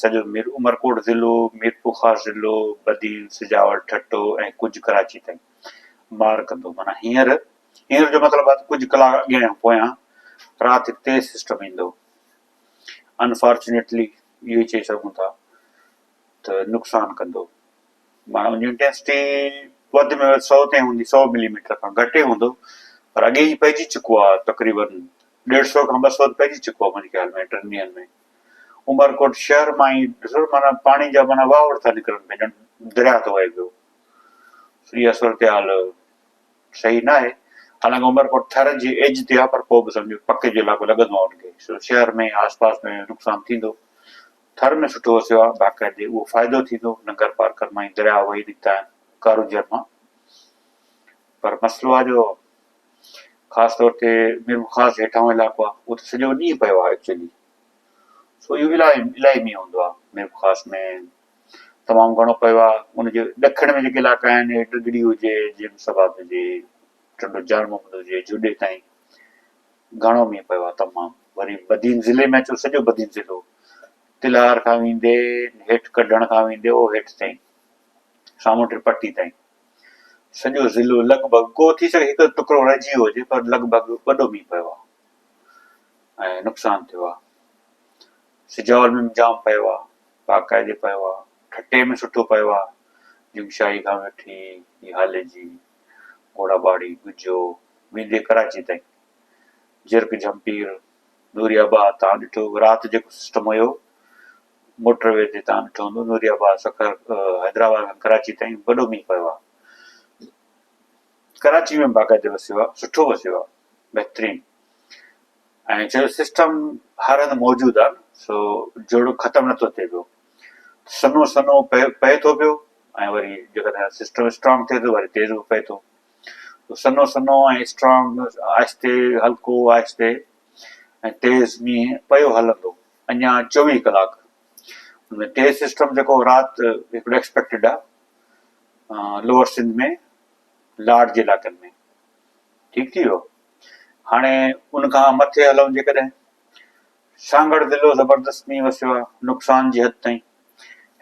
سڄو عمرڪوٽ ضلعو، ميرپورخاص ضلعو، بدين، سجاول، ٺٽو ۽ ڪجهه ڪراچي تائين مار ڪندو معنيٰ هينئر هينئر جو مطلب آهي ڪجهه ڪلاڪ اڳيان يا پويان رات هڪ تيز سسٽم ايندو انفارچونيٽلي اهو چئي سگهون ٿا ته نقصان ڪندو معنيٰ ان جي انٽينسٽي وڌ ۾ وڌ سؤ تائين هوندي سؤ ملي ميٽر کان گهٽ ئي هوندو پر اڳي جي پئجي چڪو آهي تقريبن ڏيڍ سئو کان ٻه سئو ته پئجي چڪو آهي منهنجي خيال ۾ ٽن ڏينهن ۾ عمرڪوٽ شهر مان هي ڏسو ته معنيٰ پاڻي جا معنيٰ واهوڙ ٿا نڪرن پيا ڄڻ درياهه ٿو وهي پيو اها صورتحال صحيح نه آهي حالانڪه عمرڪوٽ ٿر جي ايج تي آهي پر پوء به سمجهو پڪي جو علائقو لڳندو آهي ان کي سو شهر ۾ آس پاس ۾ نقصان ٿيندو ٿر ۾ سٺو وسيو آهي باقاعدي اهو فائدو ٿيندو ننگر پارڪر مان درياهه وهي نڪتا آهن ڪاروجر مان پر مسئلو آهي جو خاص طور تي ميرپور خاص هيٺاهون علائقو آهي اهو ته سڄو ڏينهن پيو آهي ايڪچوئلي سو اهو الائي الائي مينهن هوندو آهي ميرپور خاص ۾ تمام گهڻو پيو آهي ان جي ڏکڻ ۾ جيڪي علائقا آهن ٽگڙي هجي جي ايم سبات هجي ٽنڊو جان محمد هجي جوڏي تائين گهڻو مينهن پيو آهي تمام وري بدين ضلعي ۾ اچو سڄو بدين ضلعو تلهار کان ويندي هيٺ ڪڍڻ کان ويندي اهو هيٺ تائين سامونڊ پٽي تائين سڄو ضلعو لڳ ڀڳ ڪو ٿي سگهي هڪ ٽڪرو رهجي ويو هجي پر لڳ ڀڳ وڏو مينهن پيو آهي ۽ نقصان ٿيو آهي سجاول ۾ جام پيو آهي باقاعدي پيو آهي ٺٽي ۾ سٺو پيو آهي جمشاهي کان وٺي هالي جي گهوڙا باڙي گجو ويندي ڪراچي تائين جرڪ جھمپير نوري آباد تان ڏٺو رات جيڪو سسٽم هيو موٽر وي تي تان ڏٺو هوندو نوري آباد سکر حيدرآباد کان ڪراچي تائين وڏو مينهن پيو آ ڪراچي ۾ باقاعدي وسيو آ سٺو وسيو آ بهترين ۽ جو سسٽم هر هنڌ موجود آ سو جوڙو ختم نه ٿو ٿئي پيو سنو سنو پئي پئي ٿو پيو ۽ وري جيڪڏهن سسٽم اسٽرانگ ٿئي ٿو وري تيز به پئي ٿو سنو سنو ۽ اسٽرانگ آهستي هلڪو آهستي ۽ تيز مينهن پيو هلندو اڃا چوويهه ڪلاڪ ان ۾ تيز سسٽم جيڪو رات هڪڙو ايڪسپيڪٽيڊ آهي لوور سنڌ ۾ لاڙ جي علائقن ۾ ٺيڪ ٿي ويو هاڻي ان کان مٿي هلون جيڪڏهن سانگهڙ ضلعو زبردست مينهن وسيو آهي نقصان جي حد تائين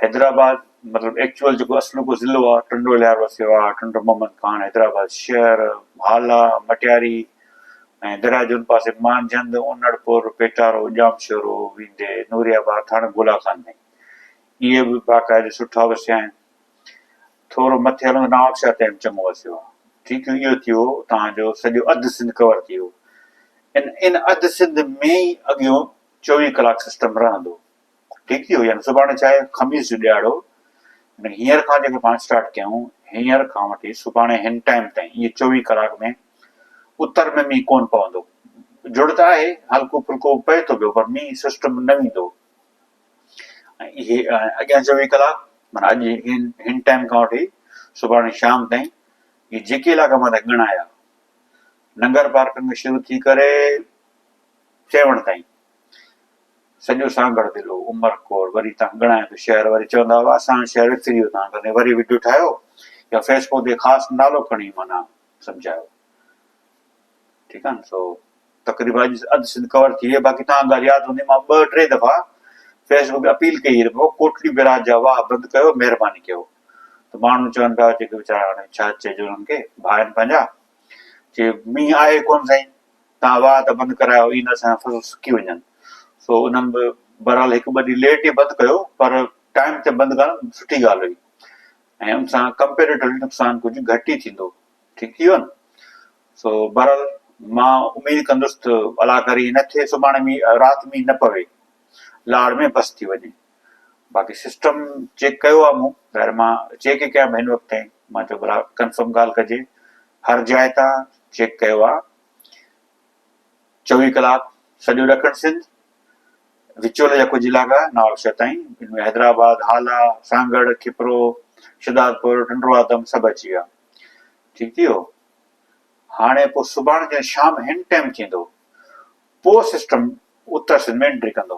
حيدرآباد مطلب ايڪچوئل جيڪو اصلوڪو ضلعو آ ٽنڊو الهيار وسيو آ، ٽنڊو محمد خان، حيدرآباد شهر، هالا، مٽياري ۽ درياء جي ان پاسي مانجهند، انڙ پور، پيٽارو، ڄام شورو، ويندي، نوري آباد، ٿاڻو گولا خان ۾ اهي به باقاعدي سٺا وسيا آهن. ٿورو مٿي هلندو نوابشاهه تائين به چڱو وسيو آ. ٺيڪيون اهو ٿيو اتان جو سڄو اڌ سنڌ ڪور ٿي ويو. ان ان اڌ سنڌ ۾ ئي اڳيون چوويهه ڪلاڪ سسٽم رهندو. ٺيڪي هجن سڀاڻي ڇا آهي خميس جو ڏهاڙو يعني هينئر کان جيڪو پاڻ اسٽارٽ ڪيون هينئر کان وٺي سڀاڻي هن ٽائيم تائين اهي چوويهه ڪلاڪ ۾ اتر ۾ مينهن ڪون پوندو جڙ ته آهي هلڪو ڦلڪو پئي ٿو پيو پر مينهن سسٽم نه ويندو اهي اڳيان چوويهه ڪلاڪ مانا اڄ هن هن ٽائيم کان وٺي سڀاڻي شام تائين اهي جيڪي علاقا مٿان ڳڻايا ننگر پارڪن کان شروع ٿي ڪري چيوڻ تائين سڄو سانگهڙ ضلعو، عمر ڪور، وري تان ڳڻائي ته شهر وري چوندا هئا اسان هاڻي شهر وسري ويو تان ڪري وري وڊيو ٺاهيو يا فيسبوڪ تي خاص نالو کڻي معنيٰ سمجهايو ٺيڪ آهي نه سو تقريبا اڄ اڌ سنڌ ڪور ٿي ويئي باقي تان ڳالهه ياد هوندي مان ٻه ٽي دفعا فيسبوڪ تي اپيل ڪئي رکو ڪوٽڙي بيراج جا واهه بند ڪيو مهرباني ڪيو ته ماڻهو چون پيا جيڪي ويچارا هاڻي ڇا چئجي انهن کي ڀائن پنهنجا چي مينهن آهي ڪون سائين توهان واهه ته بند ڪرايو اي نه اسان جا فصل سڪي وڃن سو انهن به بهرحال هڪ ٻه ڏينهن ليٽ ئي بند ڪيو پر ٽائيم تي بند ڪرڻ سٺي ڳالهه هئي ۽ ان سان ڪمپيريٽولي نقصان ڪجهه گهٽ ئي ٿيندو ٺيڪ ٿي ويو نه سو بهرحال مان اميد ڪندس ته الله ڪري هن کي سڀاڻي مينهن رات مينهن نه پوي لاڙ ۾ بس ٿي وڃي باقي سسٽم چيڪ ڪيو آ مون ظاهر مان چيڪ ئي ڪيان هن وقت تائين مان چيو ڀلا ڪنفرم ڳالهه ڪجي هر جاء تان چيڪ ڪيو آ چوي ڪلاڪ سڄو ڏکڻ سنڌ وچول جا ڪجهه علاقا نوابشاهه تائين ان ۾ حيدرآباد هالا سانگڙ کپرو شدادپور ٽنڊو آدم سڀ اچي ويا ٺيڪ ٿي ويو هاڻي پوء سڀاڻ جي شام هن ٽائم ٿيندو پوء سسٽم اتر سنڌ ۾ انٽري ڪندو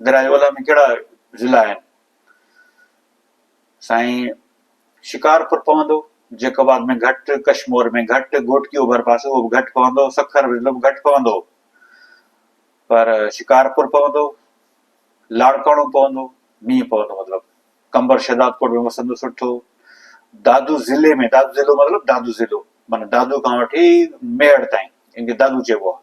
درياء اولهه ۾ ڪهڙا ضلع آهن؟ سائين شڪارپور پوندو، جيڪب آباد ۾ گهٽ، ڪشمور ۾ گهٽ، گهوٽڪي اوڀر پاسي اهو به گهٽ پوندو، سکر ضلعو به گهٽ پوندو پر شڪارپور پوندو، لاڙڪاڻو پوندو، مينهن پوندو مطلب قمبر شهدادڪوٽ ۾ وسندو سٺو، دادو ضلعي ۾ دادو ضلعو مطلب دادو ضلعو معنيٰ دادو کان وٺي ميهڙ تائين ان کي دادو چئبو آهي.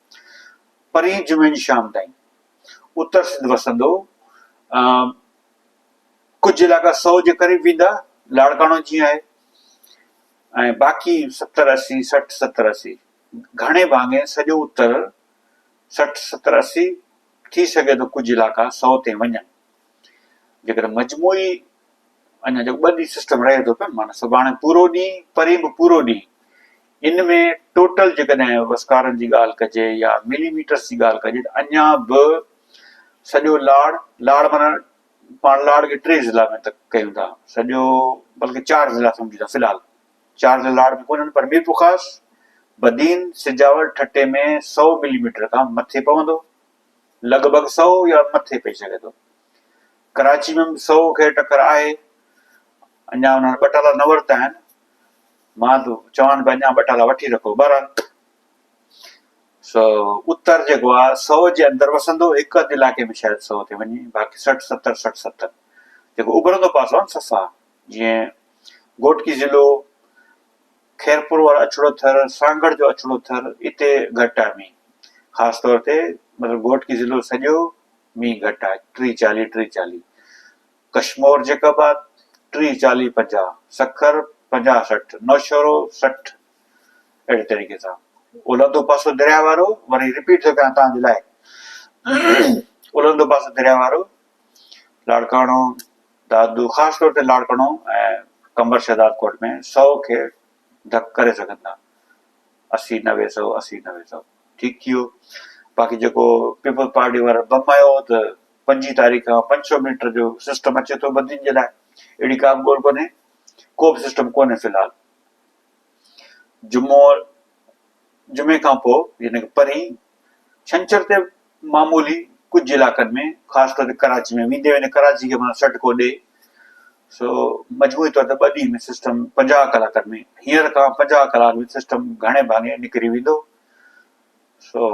پرين جمعين شام تائين اتر سنڌ وسندو ڪجهه علائقا سو جي قريب ويندا لاڙڪاڻو جيئن آهي ۽ باقي ستر اسي سٺ ستر اسي گهڻي ڀاڱي سڄو اتر سٺ ستر اسي ٿي سگهي ٿو ڪجهه علائقا سو تي وڃن جيڪڏهن مجموعي اڃا جو ٻه ڏينهن سسٽم رهي ٿو پيو مانا سڀاڻي پورو ڏينهن پرين به پورو ڏينهن ان ۾ ٽوٽل جيڪڏهن وسڪارن جي ڳالهه ڪجي يا ملي ميٽرس جي ڳالهه ڪجي ته اڃا به سڄو لاڙ، لاڙ معنيٰ پاڻ لاڙ کي ٽي ضلعا ۾ تڪ ڪيون ٿا، سڄو بلڪه چار ضلعا سمجهون ٿا في الحال، چار ضلعا لاڙ ۾ ڪونهن پر ميرپورخاص، بدين، سجاول، ٺٽي ۾ سؤ ملي ميٽر کان مٿي پوندو، لڳ ڀڳ سؤ يا مٿي پئي سگهي ٿو. ڪراچي ۾ به سؤ کي ٽڪر آهي، اڃا انهن ٻه ٽالا نه ورتا آهن. ماڌو، چوان به اڃا ٻه ٽالا وٺي رکو. بهرحال سو اتر جيڪو آ سو جي اندر وسندو، هڪ اڌ علائقي ۾ شايد سو تي وڃي، باقي سٺ ستر سٺ ستر جيڪو اڀرندو پاسو آهن صفا جيئن گهوٽڪي ضلعو، خيرپور وارو اڇڙو ٿر، سانگهڙ جو اڇڙو ٿر اتي گهٽ آهي مينهن خاص طور تي مطلب گهوٽڪي ضلعو سڄو مينهن گهٽ آهي ٽي چاليهه ٽي چاليهه. ڪشمور جيڪب آباد ٽيهه چاليهه پنجاهه، سکر پنجاهه سٺ، نوشهرو سٺ اهڙي طريقي سان اولهندو پاسو درياء وارو وري رپيٽ ٿو ڪيان توهان جي لاء اولهندو پاسو درياء وارو لاڙڪاڻو دادو خاص طور تي لاڙڪاڻو ۽ قمبر شهداد ڪوٽ ۾ سؤ کي ڌڪ ڪري سگهن ٿا اسي نوي سؤ اسي نوي سؤ ٺيڪ ٿي ويو باقي جيڪو پيپلز پارٽي وارن بم هنيو هو ته پنجين تاريخ کان پنج سؤ ميٽر جو سسٽم اچي ٿو بدين جي لاء اهڙي ڪا به ڳول ڪونهي ڪو به سسٽم ڪونهي في الحال جمعو جمعي کان پوء يعنی پرين ڇنڇر تي معمولي ڪجهه علائقن ۾ خاص ڪري ڪراچي ۾ ويندي ويندي ڪراچي کي معنيٰ سٽ ڪو ڏي سو مجموعي طور تي ٻه ڏينهن ۾ سسٽم پنجاهه ڪلاڪن ۾ هينئر کان پنجاهه ڪلاڪ ۾ سسٽم گهڻي ڀاڱي نڪري ويندو سو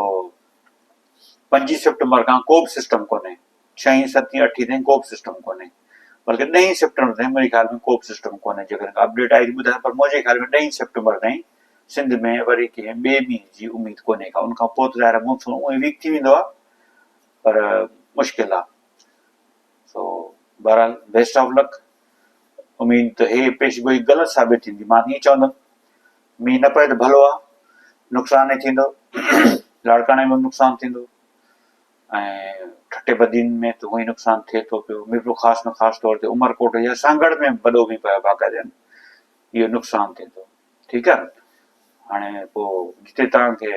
پنجين سيپٽمبر کان ڪو به سسٽم ڪونهي ڇهين ستين اٺين تائين ڪو به سسٽم ڪونهي بلڪه ڏهين سيپٽمبر تائين منهنجي خيال ۾ ڪو به سسٽم ڪونهي جيڪڏهن اپڊيٽ آئي ته ٻڌايو پر منهنجي خيال ۾ ڏهين سيپٽمبر تائين سنڌ ۾ وري ڪنهن ٻئي مينهن جي اميد ڪونهي ڪا، ان کان پوء ته ظاهر مون سون اونهي ويڪ ٿي ويندو آهي پر مشڪل آهي سو بهرحال بيسٽ آف لڪ اميد ته هي پيش گوئي غلط ثابت ٿيندي مان ائين چوندم مينهن نه پئي ته ڀلو آهي نقصان ئي ٿيندو لاڙڪاڻي ۾ نقصان ٿيندو ۽ ٺٽي بدين ۾ ته هوئي نقصان ٿئي ٿو پيو ميرپور خاص ۾ خاص طور تي عمرڪوٽ يا سانگهڙ ۾ وڏو مينهن پيو باقاعدي اهو نقصان ٿيندو ٺيڪ آ هاڻي پو جتي توهان کي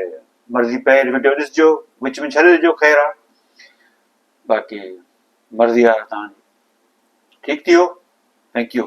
مرضي پئي وڊيو ڏسجو وچ ۾ ڇڏي ڏجو خير آ باقي مرضي آ توهان جي ٺيڪ ٿيو ٿينڪ يو